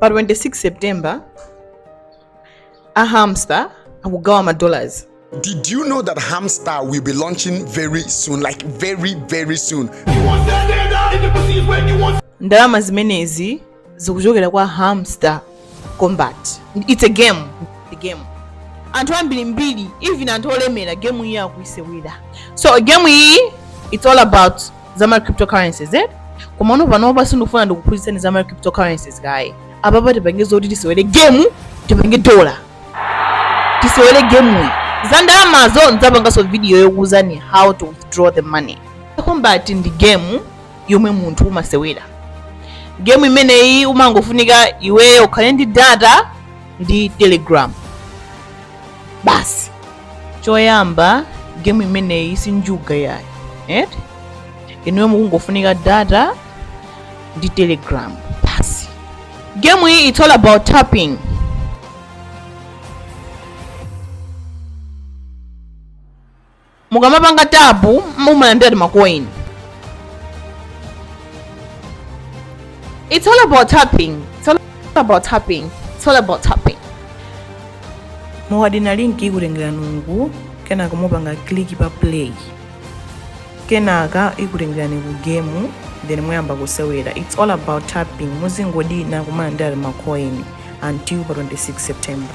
pa 26 september a hamster akugawa ma dollars Did you know that Hamster will be launching very soon? Like very, very soon. ndalama zimenezi zikuchokera kwa hamster combat its a game It's a game anthu ambirimbiri even anthu olemera game iyi akuisewera so game iyi its all about za ma cryptocurrencies eh? komano panopa sindikufuna ndikuphunzitseni za ma cryptocurrencies kaye apapa tipange zoti tisewere gemu tipange dola tisewere gemuyi za ndalamazo ndidzapanganso video yokuuzani how to withdraw the money kombati ndi gemu yomwe munthu umasewera gemu imeneyi umangofunika iweyo ukhale ndi data ndi telegram basi choyamba game imeneyi si njuga yayi inuyo mukungofunika data ndi telegram basi game iyi it's all about tapping mukamapanga tapu mumalandira makoini It's all about tapping. mukadina linki ikutengerani uku kenaka mupanga kliki pa play kenaka ikutengerani ku gemu then muyamba kusewera its all about tapping muzingodina kumalandira macoin until pa 26 september